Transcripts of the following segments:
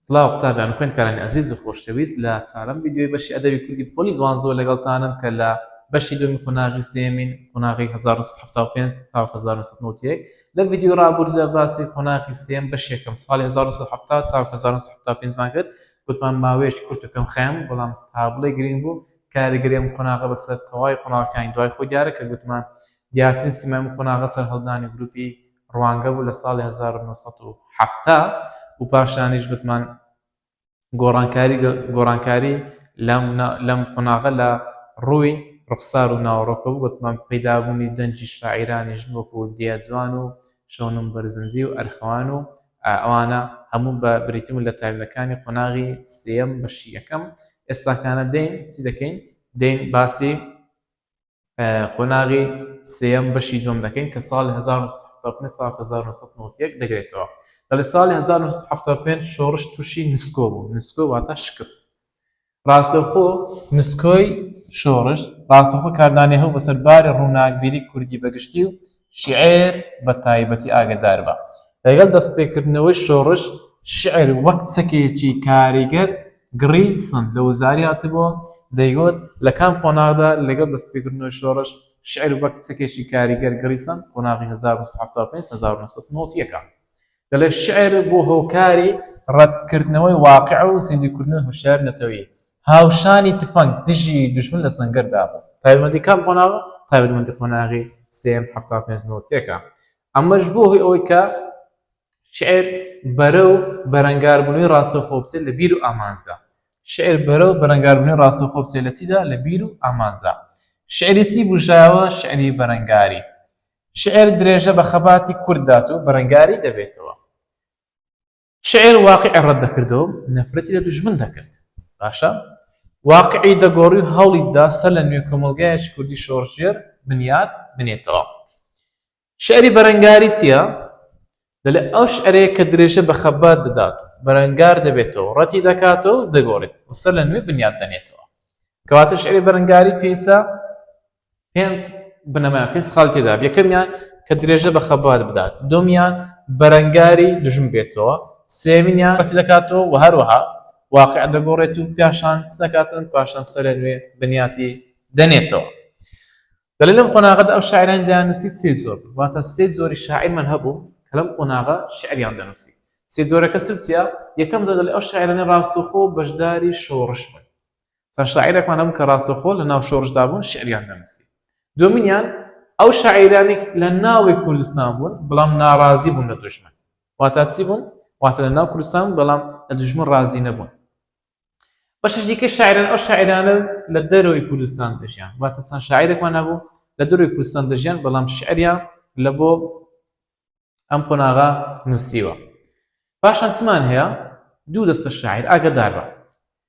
سڵاو قوتابیان و خوێندکارانی ئەزیز و خۆشەویست لە چارەم ڤیدیۆی بەشی ئەدەبی کوردی پۆلی دوانزەوە لەگەڵتانم کە لە بەشی دووەمی قۆناغی سێیەمین قۆناغی هەزار و نۆ سەد و حەفتا و پێنج تاوەک هەزار و نۆ سەد و نەوەد و یەک لە ڤیدیۆی ڕابوردودا باسی قۆناغی سێیەم بەشی یەکەم ساڵی هەزار و نۆ سەد و حەفتا تاوەک هەزار و نۆ سەد و حەفتا و پێنج مان کرد گوتمان ماوەیەکی کورت و کەم خەیام بوو بەڵام تا بڵێی گرنگ بوو کاریگەری ئەم قۆناغە بەسەر تەواوی قۆناغەکانی دوای خۆی دیارە کە گوتمان دیارترین سیمای ئەم قۆناغە سەرهەڵدانی گروپی ڕوانگە بوو لە ساڵی هەزار و نۆ سەد و حەفتا و پاشانیش بتمان گۆڕانکاری گۆڕانکاری لەم قۆناغە لە ڕووی ڕوخسار و ناوەڕۆکە بوو وتمان پەیدابوونی دەنجی شاعیرانی ژن وەکو دیا جوان و شەونم بەرزنجی و ئەرخەوان و ئەوانە هەموو بە بریتم لە تایبەتەکانی قۆناغی سێم بەشی یەکەم ئێستاکانە دێین چی دەکەین دێین باسی قۆناغی سێیەم بەشی دووەم دەکەین کە ساڵی 1970 سال 1991 دەگرێتەوە لە ساڵی 1970 شۆڕش تووشی نسکۆ بوو نسکۆ واتە شکست ڕاستەخۆ نسکۆی شۆڕش ڕاستەخۆ کاردانی هەو بەسەر باری ڕووناکبیری کوردی بەگشتی و شیعر بە تایبەتی ئاگەدار بە. لەگەڵ دەستپێکردنەوەی شۆڕش، شیعر وەک چەکێکی کاریگەر گڕی سند لە وزاری هاتبووە، دەیگوت، لە کام قۆناغدا؟ لەگەڵ دەستپێکردنەوەی شۆڕش، شیعر وەک چەکێکی کاریگەر گڕی سەند، قۆناغی هەزار و نۆ سەد و حەفتا و پێنج هەزار و نۆ سەد و نەوەد و یەک. دەڵێت، شیعر بووە هۆکاری ڕەتکردنەوەی واقیع و زیندووکردنەوەی هۆشیاری نەتەوەیی، هاوشانی تفەنگ دژی دوژمن لە سەنگەر دابوو. تایبەتمەندی کام قۆناغە؟ تایبەتمەندی قۆناغی سێیەم حەفتا و پێنج نەوەد و یەک ە. ئەمەش بووە هۆی ئەوەی کە شیعر بەرە و بەرەنگاربوونەوەی ڕاستەوخۆ بچێت لە بیر و ئامانجدا. شیعر بەرە و بەرەنگاربوونەوەی ڕاستەوخۆ بچێت لە چیدا؟ لە بیر و ئامانجدا. شیعری چی بوژایەوە؟ شیعری بەرەنگاری. شیعر درێژە بە خەباتی کورد دات و بەرەنگاری دەبێتەوە. شعر واقعی ڕەت دەکردەوە و نەفرەتی لە دوژمن دەکرد. باشە؟ واقعی دەگۆڕی و هەوڵی دا سەر لە نوێ کۆمەڵگایەکی کوردی شۆڕشگێر بنیات بنێتەوە. شعری بەرەنگاری چییە؟ دەڵێ ئەو شعرەیە کە درێژە بە خەبات دەدات و بەرەنگار دەبێتەوە و ڕەتی دەکاتەوە و دەگۆڕێت و سەر لە نوێ بنیات دەنێتەوە. کەواتە شعری بەرەنگاری پێیسە پێنج بنەمایان پێنج خاڵی تێدا بێ یەکەمیان کە درێژە بە خەبات بدات دومیان بەرەنگاری دژم بێتەوە سێمینیان بەتی دەکاتەوە و هەروەها واقع دەگۆڕێت و پیاشان دەکاتن پاشان سەرە نوێ بنیاتی دەنێتەوە دەلێ لەم قۆناغەدا ئەو شاعرانی دانوسی سێ زۆر واتە سێ زۆری شاعیرمان هەبوو کە لەم قۆناغە شعریان دەنووسی سێ زۆرەکە سوچیا یەکەم زۆر لە ئەو شاعرانە ڕاستوخۆ بەشداری شۆڕش بن چەند شاعیرێکمان هەبوو کە ڕاستەوخۆ لە ناو شۆڕشدا بوون شعریان دەنووسی دومینیان ئەو شاعیرانی لە ناوی کوردستان بوون بەڵام ناڕازی بوون لە دژمن واتا چی بوون واتە لە ناو کوردستان بەڵام لە دژمن ڕازی نەبوون بەشش دیکە شاعران ئەو شاعرانە لە دەرەوەی کوردستان دەژیان واتە چەند شاعیرێکمان هەبوو لە دەروی کوردستان دەژیان بەڵام شعریان لە بۆ ئەم قۆناغە نووسیوە پاشان سمان هەیە دوو دەستە شاعیر ئاگدار بە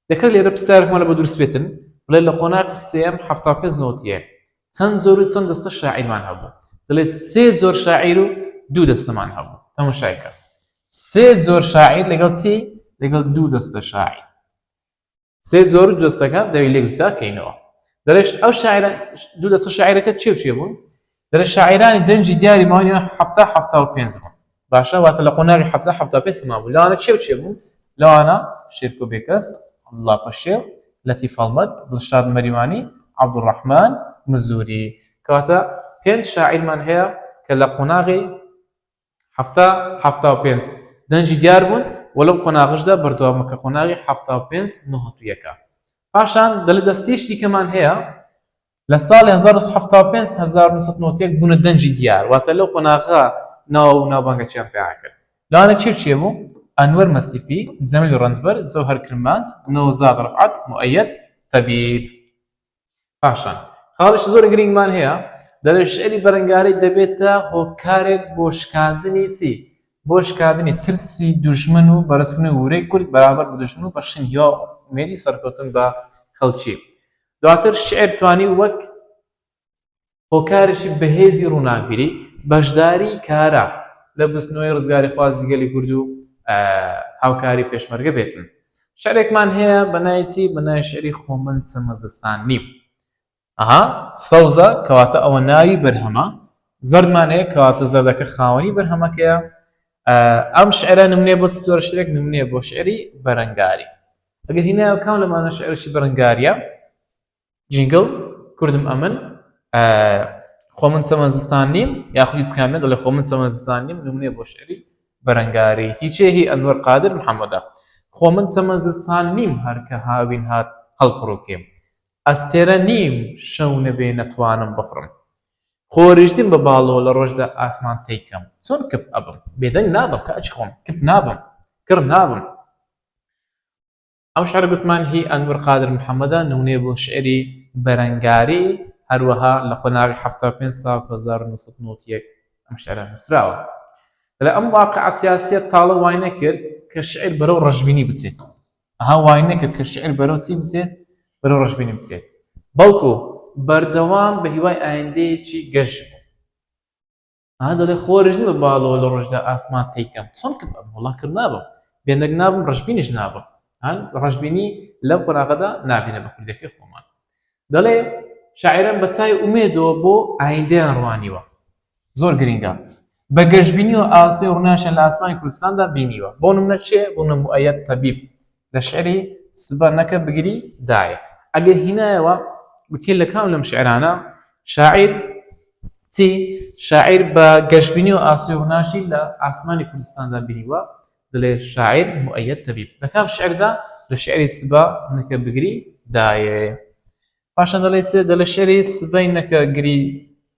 دەکرێت لێرە پرسیارێکمان لە بە دروست بێتن بڵێ لە قۆناغ سێم هەفتا پێنج نۆتیە چەند زۆر و چەند دەستە شاعیرمان هەبوو دەڵێ سێ زۆر شاعیر و دوو دەستەمان هەبوو ئەمە شایکە سێ زۆر شاعیر لەگەڵ چی لەگەڵ دوو دەستە شاعیر سێ زۆر و دەستەکان دەوی لێ گوستا کەینەوە دەرێش ئەو شاعر دوو دەستە شاعیرەکە چێ چێ بوون دەرە شاعرانی دەنجی دیاری ماوەنیە هەفتا هەفتا و پێنج بوون باشە واتە لە قۆناغی هەفتا هەفتا پێ سما بوو لەوانە چێ چێ بوون لەوانە شێرکۆ بێکەس الله پەشێ لەتی فەڵمەت دڵشاد مەریوانی عبدڕحمان مزوری کەواتە پێنج شاعیرمان هەیە کە لە قۆناغی حەفتا، حەفتا و پێنج دەنگی دیار بوون و لەم قۆناغەشدا بەردەوامە کە قۆناغی حەفتا و پێنج نهتویەکە. پاشان دەڵێت دەستەیەکی دیکەمان هەیە لە ساڵی هەزار و نۆ سەد و حەفتا و پێنج، هەزار و نۆ سەد و نەوەد و یەک بوونە دەنگی دیار، واتە لەو قۆناغە ناو و ناوبانگەکیان پەیڕە کرد. لەوانە چی و چی بوو؟ ئەنوەر مەسیفی، جەمیل ڕەنجبەر، جەوهەر کرمانج، نەوزاد ڕەفعەت، موئەیەد تەبیب. پاشان خاڵیکی زۆر گرینگمان هەیە دەڵێ شعری بەرەنگاری دەبێتە هۆکارێک بۆ شکاندنی چی بۆ شکاندنی ترسی دوژمن و بەرزکردنی ورەی کورد بەرامبەر بە دوژمن و بەخشین هیوا مێری سەرکەوتن بە خەڵکی دواتر شعر توانی وەک هۆکارێکی بەهێزی ڕووناکبیری بەشداری کارا لە بزنەوەی ڕزگاریخوازی گەلی کورد و هاوکاری پێشمەرگە بێتن شعرێکمان هەیە بەنای چی بەنای شعری خۆ من چەمە زستان نیم ئەها سەوزە کەواتە ئەوە ناوی بەرهەمە زەردمان هەیە کەواتە زەردەکە خاوەنی بەرهەمەکەیە ئەم شعرە نمونێ بۆ زۆر شتێک نمونێ بۆ شعری بەرەنگاری ئەگەر هینایە کام لەمانە شعرشی بەرەنگاریە جینگڵ، کوردم ئەمن، خۆ من سەمە زستان نیم، یاخود هیچ کام نەدەڵێ خۆ من سەمە زستان نیم، نمونەیە بۆ شعری بەرەنگاری، هی چێ هی ئەنوەر قادر محەمەدە. خۆ من سەمە زستان نیم هەر کە هاوین هات هەڵپڕووکێم. ئەستێرە نیم شەو نەبێ نەتوانم بخڕم. خۆریشتن بە باڵۆ لە ڕۆژدا ئاسمان تەی کەم. چۆن کپ ئەبم؟ بێدەنگ نابم کە ئەچخۆم، کپ نابم، کڕ نابم. ئەم شعرە گوتمان هی ئەنور قادر محەمەدە نمونەیە بۆ شعری بەرەنگاری هەروەها لە قۆناغی حەفتا و پێنج ساڵ هەزار و نۆ سەد و نەوەد و یەک ئەم شعرە نووسراوە لە ئەم واقع سیاسیە تاڵە وای نەکرد کە شعر بەرەو ڕەشبینی بچێت ئەها وای نەکرد کە شعر بەرەو چی بچێت بەرەو ڕەشبینی بچێت بەڵکو بەردەوام بە هیوای ئایندەیەکی گەش بوو ها دەڵێ خۆرش نیم بە باڵەوە لە ڕۆژدا ئاسمان تێکەم چۆن کە وڵا کرد نابم بێنەک نابم ڕژبینیش نابم هەن ڕژبینی لەم قۆناغەدا نابینە بە کوردەکەی خۆمان دەڵێ شاعرم بە چای ئومێدەوە بۆ ئایندەیان ڕوانیوە زۆر گرنگە بە گەشتبینی و ئاسۆی ڕناشە لە ئاسمانی کوردستاندا بینیوە بۆ نمونە چێ بۆ نمبوو ئەیەت تەبیب لە شعری، سبە نەکە بگری، دایە. ئەگەر هینایەوە گوتیە لە کام لەم شعرانە شاعیر چی شاعیر بە گەشبینی و ئاسۆی ڕووناکی لە ئاسمانی کوردستاندا بینیوە، دەلێ شاعیر، موئەیەد تەبیب، لە کام شعردا، لە شعری، سبە نەکە بگری، دایە. پاشان دەلێ چ، دەلێ شعری، سبەی نەکە گری،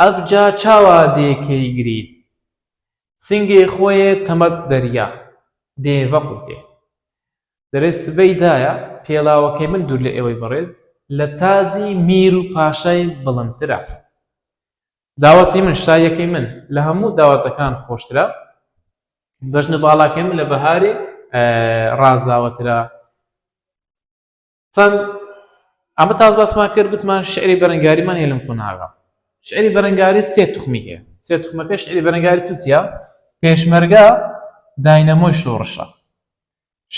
ئەبجا چاوا دێ کەی گرید. سنگێ خوەێ تەمەک دەریا دێ ڤە قوتێ. دەێ سبەی دایە پێڵاوەکەی من دور لە ئێوەی بەڕێز لە تازی میر و پاشای بڵندترە. داوەتی من، شاییەکەی من، لە هەموو داوەتەکان خۆشترە. بەژنە باڵاکەی من لە بەهارێ ڕازاوەترە. چەند ئەمە تاز باسمان کرد گوتمان شعری بەرەنگاریمان هێلم قوناغە شعری بەرەنگاری سێ تخمی هەیە سێ تخمەکە شعری بەرەنگاری سوسیا پێشمەرگە داینەمۆی شۆڕشە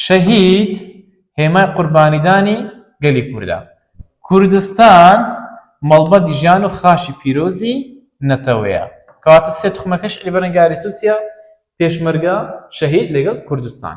شەهید هێمای قوربانیدانی گەلی کووردا کوردستان مەڵبەت ژیان و خاشی پیرۆزی نەتەوەیە کاتە سێ تخمەکەش علی بەرەنگاری سوسیا پێشمەرگە شەهید لەگەڵ کوردستان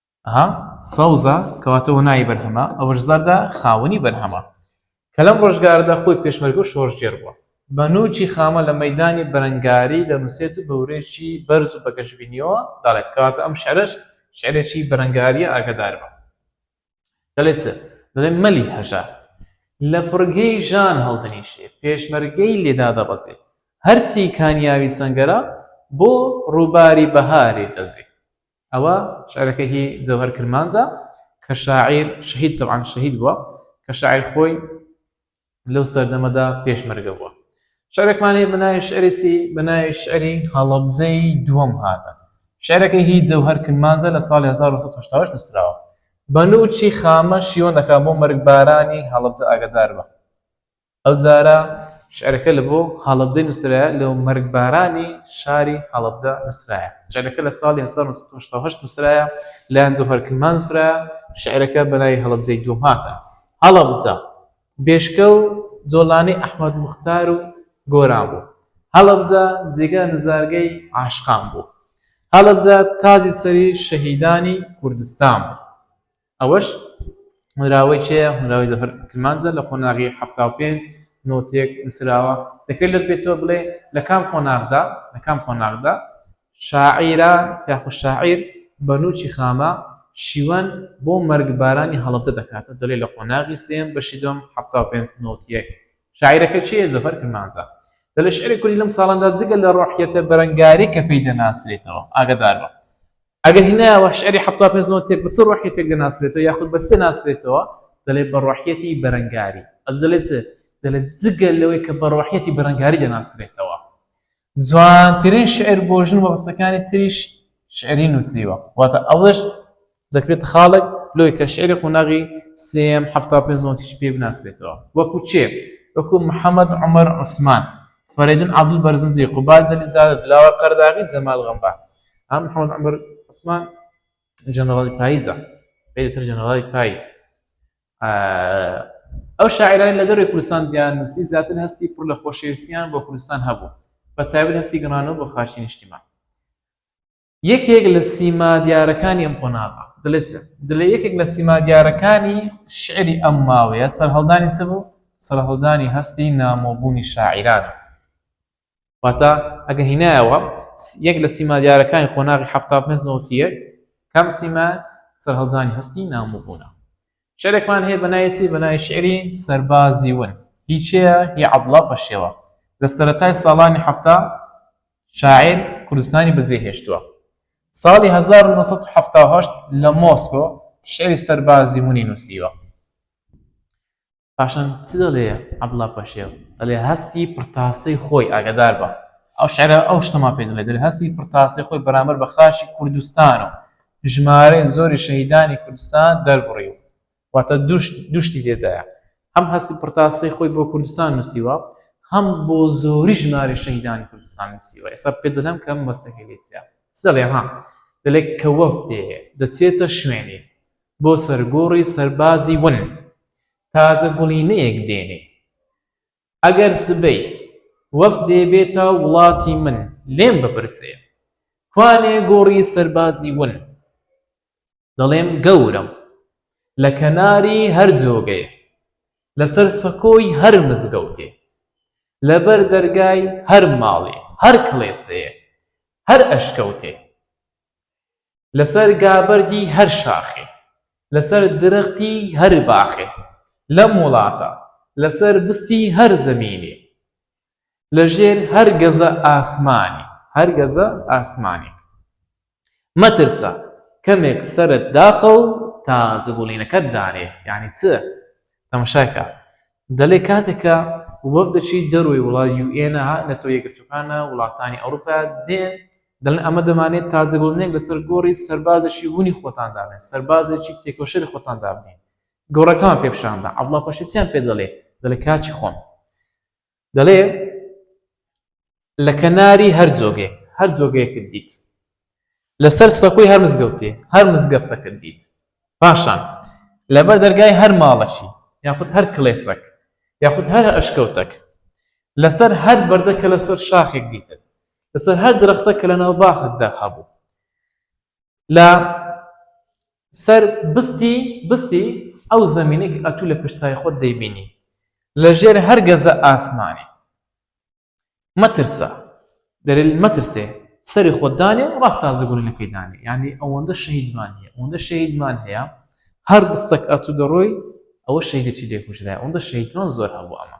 ئەها سەوزە کەواتە هونای بەرهەمە، ئەوەش زەردە خاوەنی بەرهەمە کە لەم ڕۆژگارەدا خۆی پێشمەرگە و شۆڕشگێڕ بووە. بە نووکی خامە لە مەیدانی بەرەنگاری دەنووسێت و بە ورەیەکی بەرز و بە گەشبینییەوە دەڵێت، کەواتە ئەم شیعرەش شیعرێکی بەرەنگارییە ئاگادار بە. دەڵێت چ؟ دەڵێت مەلی هەژار لە فڕگەی ژان هەڵدەنیشێ، پێشمەرگەی لێ دادەبەزێ، هەرچی کانیاوی سەنگەرە بۆ ڕووباری بەهارێ دەزێ. ئەوە شعرەکە هی جەوهەر کرمانجە کە شاعیر شەهید تەبعەن شەهید بووە کە شاعیر خۆی لەو سەردەمەدا پێشمەرگە بووە شعرێکمان هەیە بەناوی شعرێکی بەناوی شعری هەڵەبزەی دووەم هاتە شعرەکە هی جەوهەر کرمانجە لە ساڵی 1970 نووسراوە بەنوچی خامە شیوەندەکە بۆ مەرگبارانی هەڵەبزە ئاگدار بە ئەو جارە شعرەکە لە بۆ هەڵەبجەی نووسرایە لە و مەرگبارانی شاری هەڵەبجە نووسرایە. شعرەکە لە ساڵی هەزار و نۆ سەد و هەشتا و هەشت نووسرایە لایان جەوهەر کرمان نووسرایە، شعرەکە بە ناوی هەڵەبجەی دووەم هاتە. هەڵەبجە، بێشکە و جۆڵانی ئەحمەد موختار و گۆران بوو. هەڵەبجە، جێگا نزارگەی عاشقان بوو. هەڵەبجە، تاجی سەری شەهیدانی کوردستان بوو. ئەوەش هۆنراوەی کێیە؟ هۆنراوەی زەفەر کرمانجە لە قۆناغی حەفتا و پێنج نۆتێک نووسراوە، دەکرێت لێت بێتەوە بڵێ لە کام قۆناغدا لە کام قۆناغدا شاعیرە یاخود شاعیر بە نووکی خامە شیوەن بۆ مەرگبارانی هەڵەبجە دەکاتە دەڵێ لە قۆناغی سێیەم بەشی دووەم حەفتا و پێنج نۆت یەک شاعیرەکە چییە زەفەر کرمانجە دەڵێ شعری کوردی لەم ساڵاندا جگە لە ڕۆحیەتە بەرەنگاری کە پێی دەناسرێتەوە ئاگادار بە ئەگەر هینایەوە شعری حەفتا پێنج نۆ تێک بە چ ڕۆحیەتێک دەناسرێتەوە یاخود بە چ دەناسرێتەوە؟ دەلێت بە ڕۆحیەتی بەرەنگاری. ئەج دەلێت چ؟ دەلێت جگە لەوەی کە بە ڕۆحیەتی بەرەنگاری دەناسرێتەوە. جوانترین شعر بۆ ژن و مەبەستەکانی تریش شعری نووسیوە. واتە ئەوەش دەکرێتە خاڵێک لۆی کە شعری قوناغی سێیەم حەفتا پێنج نۆ تیشی پێ بناسرێتەوە. وەکو کێ؟ وەکو محەمەد عومەر عوسمان، فەرەیدون عەبدول بەرزنجی، قوباد جەلیزادە، دلاوەر قەرداغی، جەمال غەمبار. ئەم حەمەد عمر عوسمان جەنەڕاڵی پاییزە پێتر جەنەڕاڵی پاییز ئەو شاعرانی لە دەروی کوردستان دیان نووسی زیاتر هەستی پڕ لە خۆشەویستیان بۆ کوردستان هەبوو بە تایبەت هەستی گەڕانەوە بۆ خاچی نیشتیمان یەکێک لە سیما دیارەکانی ئەم قۆناغە دلێ یەکێک لە سیما دیارەکانی شعری ئەم ماوەیە سەرهەڵدانی چ بوو سەرهەڵدانی هەستی نامۆبوونی شاعیرانە واتە ئەگە هینایەوە یەک لە سیما دیارەکانی قۆناغی حفتا پێنج نەوتی یەک کام سیما سەرهەڵدانی هەستی نامۆبوونە شعرێکمان هەیە بەنایسی بەنای شعری سەربازی ون هیچەیە هی عەبڵا پەشێوە لە سەرەتای ساڵانی حفتا شاعر کوردستانی بەجێ هێشتووە ساڵی 1970 لە مۆسکۆ شعری سەربازی منی نووسیوە پاشان چ دەڵێ عەبدوڵڵا پەشێو دەڵێ هەستی پڕتاسەی خۆی ئاگادار بە ئەو شعرە ئەو شتەما پێ دەڵێ دەڵێ هەستی پڕتاسەی خۆی بەرامبەر بە خاشی کوردستان و ژمارەی زۆری شەهیدانی کوردستان دەربڕی و واتە دوشتی لێدایە هەم هەستی پڕتاسەی خۆی بۆ کوردستان نووسیوە هەم بۆ زۆری ژماری شەهیدانی کوردستان نووسیوە ئێستا پێ دەڵێم کەم بەستەکەی لێتیا دەڵێ ها دەلێک کە وەفت دێ دەچێتە شوێنی بۆ سەرگۆڕی سەربازی ون تازە گوڵینەیەک دێنێ ئەگەر سبەی وەفدێ بێتە وڵاتی من لێم بپرسێ کوانێ گۆڕی سەربازی ون دەڵێم گەورەم لە کەناری هەر جۆگەیە لەسەر سەکۆی هەر مزگەوتێ لەبەر دەرگای هەر ماڵێ هەر کڵێسەیە هەر ئەشکەوتێ لەسەر گابەردی هەر شاخێ لەسەر درەختی هەر باخێ لەم وڵاتە لەسەر بستی هەر زەمینێ لەژێر هەر گەزە ئاسمانی هەر گەزە ئاسمانێک مەترسە کەمێک سەرت داخە و تا زبوڵینەکەت دانێ یعنی چ تەمەشاکە دەلێ کاتێکە وەفدەچی دەروی وڵات یوئێنە نەتۆ یەکگرتوەکانە وڵاتانی ئەوروپا دێن دەڵێن ئەمە دەمانەوێت تازەبونێک لەسەر گۆڕی سەربازێکی هونی خۆتان دابنێن، سەربازێکی تێکۆشەری خۆتان دابنێن، گۆڕەکەمان پێ پیشاندا، عەبدوڵڵا پاشا چیان پێ دەڵێ، دەڵێ کاکی خۆم، دەڵێ لە کەناری هەر جۆگەیەک هەر جۆگەیەکت دیت لەسەر سەکوی هەر مزگەوتێ هەر مزگەفتەکەت دیت پاشان لەبەر دەرگای هەر ماڵەشی یاخود هەر کلێسەک یاخود هەر ئەشکەوتەک لەسەر هەر بەردەکە لەسەر شاخێک دیتت لەسەر هەر درەختە کە لەناو باخەکدا هەبوو لە سەر بستی بستی ئەو زمینێک ئەتوو لە پرسای خۆت دەیبینی لە ژێر هەر گەزە ئاسمانی مەترسە دەرل مەترسێ سەری خۆدانێ و ڕاست تازەگوونەکەی دانێ ینی ئەوەندە شەهیدمان هەیە ئەوەندە شەهیدمان هەیە هەر بستەک ئەتوو دەڕۆی ئەوە شەیدێکی لێکوژرای ئەوەندە شەیدمان زۆر هەبوو ئەمە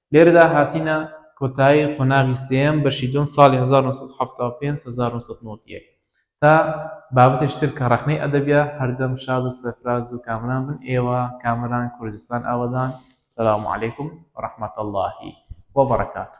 لێرەدا هاتینە کۆتایی قۆناغی سێیەم بەشی دووەم ساڵی هەزار و نۆ سەد و حەفتا و پێنج هەزار و نۆ سەد و نەوەد و یەک تا بابەتێکی تر کە ڕەخنەی ئەدەبیە هەردەم شاد و سەرفراز و کامران بن ئێوە کامەران کوردستان ئاوەدان سلام علیکم و رحمت اللە و برکاته.